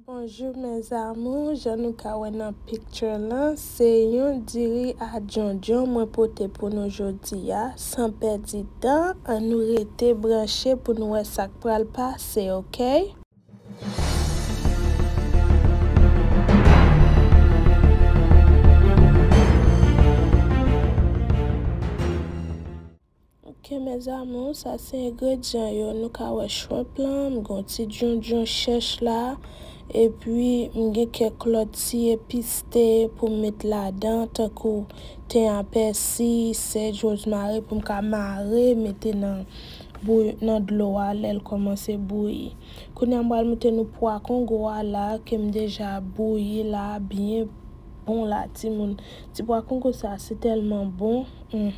Bonjour mes amours jan nou ka wè nan picture lan se yon diri a djondjon mwen pote pou nou jodi a san pèdi tan an nou rete branche pou nou wè sak pral pase ok. Ok mes amours sa se ingredyan yo nou ka wè shrimp lan m gen yon ti djondjon chèch la epi m gen kèk lòt ti epis te pou m met ladan tankou ten a pèsi, sèj, rozmari pou m ka mare mete nan bouy nan dlo a lè l kòmanse bouyi. Kounye a m pral moute nou pwa kongo a la ke m deja bouyi la byen bon la timoun ti pwa kongo sa se tèlman bon humm.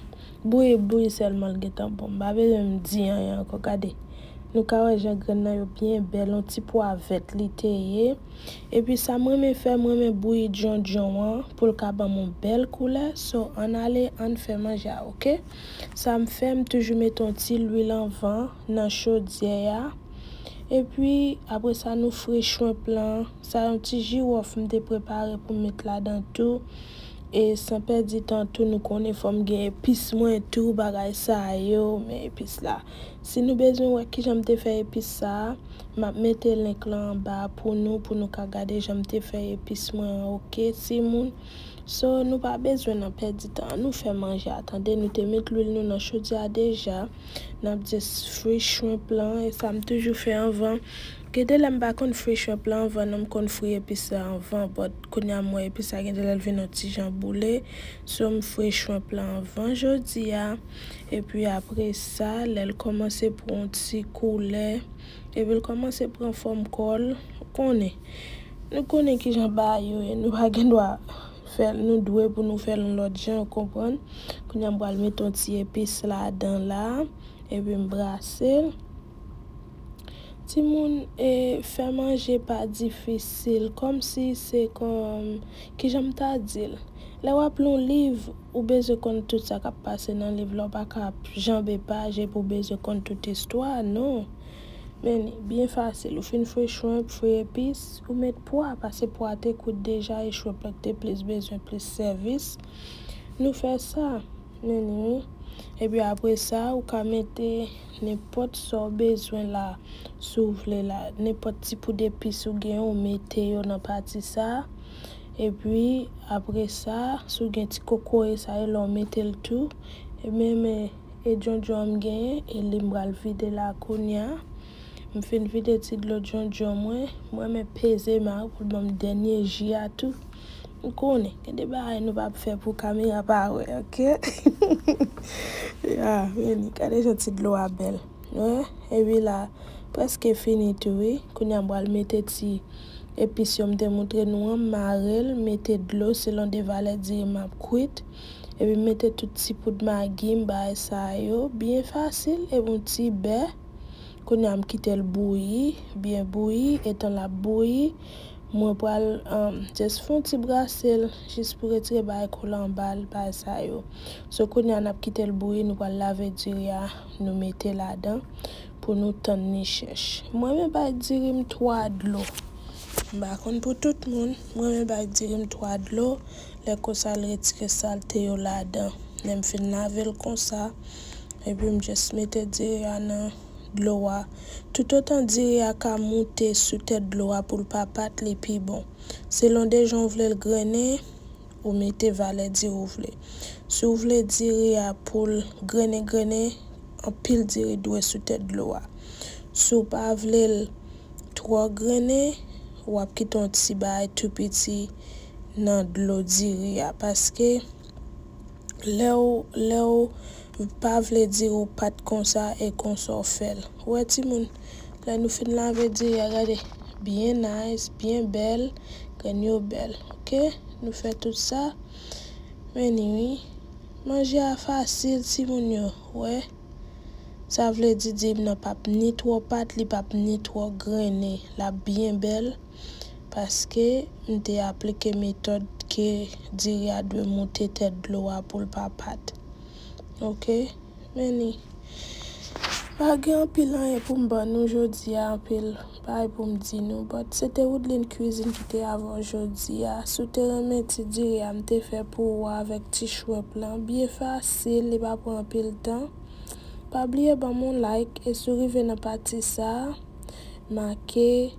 Bouyi bouyi sèlman l gentan bon m pa bezwen m di anyen ankò gade nou ka wè jan grenn nan yo byen bèl on ti pwa vèt li te ye epi sa m renmen fè m renmen bouyi djondjon an pou l ka banm on bèl koulè so ann ale ann fè manje a ok sa m fè m toujou mete on ti lwil anvan nan chodyè a epi apre sa nou fri shrimp lan sa yon ti jiwòf m te prepare pou m met ladan tou. E san pèdi tan tou nou konnen fò m gen epis mwen tou bagay sa yo men epis la. Si nou bezwen wè kijan m te fè epis sa a, m ap mete link lan anba a pou nou pou nou ka gade jan m te fè epis mwen an ok timoun. So nou pa bezwen nan pèdi tan an nou fè manje a tande nou te met lwil nou nan chodyè a deja n ap just fri shrimp lan e sa m toujou fè anvan. Gen de lè m pa konn fri shrimp lan anvan non m konn fri epis la anvan but. Kounya m wè epi sa gen de lè l vin yon ti jan boule so m fre shrimp lan anvan jodi a epi apre sa lè l kòmanse pran yon ti koulè epi l kòmanse pran fòm kò l ou konnen nou konnen kijan bagay yo ye nou pa gendwa fè l nou dwe pou nou fè l yon lòt jan ou konprann kounya m pral mete yon ti epis ladan la epi m brase l. Timoun e fè manje pa difisil kòmsi se kon kijan m ta di l lè w ap li yon liv ou bezwen konn tout sa k ap pase nan liv la ou pa ka ap janbe paj epi ou bezwen konn tout istwa a non men li byen fasil ou fin fouye shrimp fouye epis ou met pwa pase pwa a te kout deja e shrimp la te plis bezwen plis sèvis nou fè sa. Menni wi. Epi apresa ou ka mete nenpòt sa w bezwen la si w vle la. Nenpòt ti poud epis ou gen ou mete yo nan pati sa. Epi apresa si w gen ti kokoye sa yo la ou mete l tou. E men men e djondjon an m genyen e li m pral vide la kounya. M fin vide ti dlo djondjon mwen. M renmen peze m a pou l ban m dènye ji a tou. M konnen gen de bagay nou pap fè pou kamera pa wè ok ya vini gade jan ti dlo a bèl hein epi la prèske fini tou wi kounya m pral mete ti epis yo m te moutre nou an m mare l m mete dlo selon de valè diri m ap kwit epi m mete tout ti poud magi m bagay sa yo byen fasil epi yon ti bè kounya m kite l bouyi byen bouyi etan l ap bouyi. Mwen pral just fon ti brasel jis pou retire bagay kolan anbal bagay sa yo. So kounya nap kitel bouyi nou pral lave diri a nou mete ladan pou nou tann li chèch. M renmen bay diri m 3 dlo. M pa konn pou tout moun. M renmen bay diri m 3 dlo lè konsa l retire salte yo ladan. Lèm fin lavel konsa epi m just mete diri a nan. dlo a. Toutotan diri a ka moute sou tèt dlo a pou l pa pat li pi bon. Selon de jan ou vle l grennen, ou mete valè diri ou vle. Si ou vle diri a pou l grennen grennen, anpil diri dwe sou tèt dlo a. Si w pa vle l twò grennen, w ap kite yon ti bagay tou piti nan dlo diri a paske. Lèw lèw pa vle di ou pat konsa e konsa w fèl. Wè timoun lè nou fin lave diri a gade byen nice byen bèl grenn yo bèl ok nou fè tout sa meni wi manje a fasil timoun yo wè sa vle di dirim nan pap ni twò pat li pap ni twò grene lap byen bèl. paske m te aplike metòd ke diri a dwe moute tèt dlo a poul pa pat ok men li pa gen anpil anyen poum ban nou jodi a anpil bagay poum di nou but se te Woodline Cuisine ki te avè w jodi a si w te renmen ti diri a m te fè pou ou a avèk ti shrimp lan byen fasil li pa pran anpil tan pa bliye banm yon like e si w rive nan pati sa make.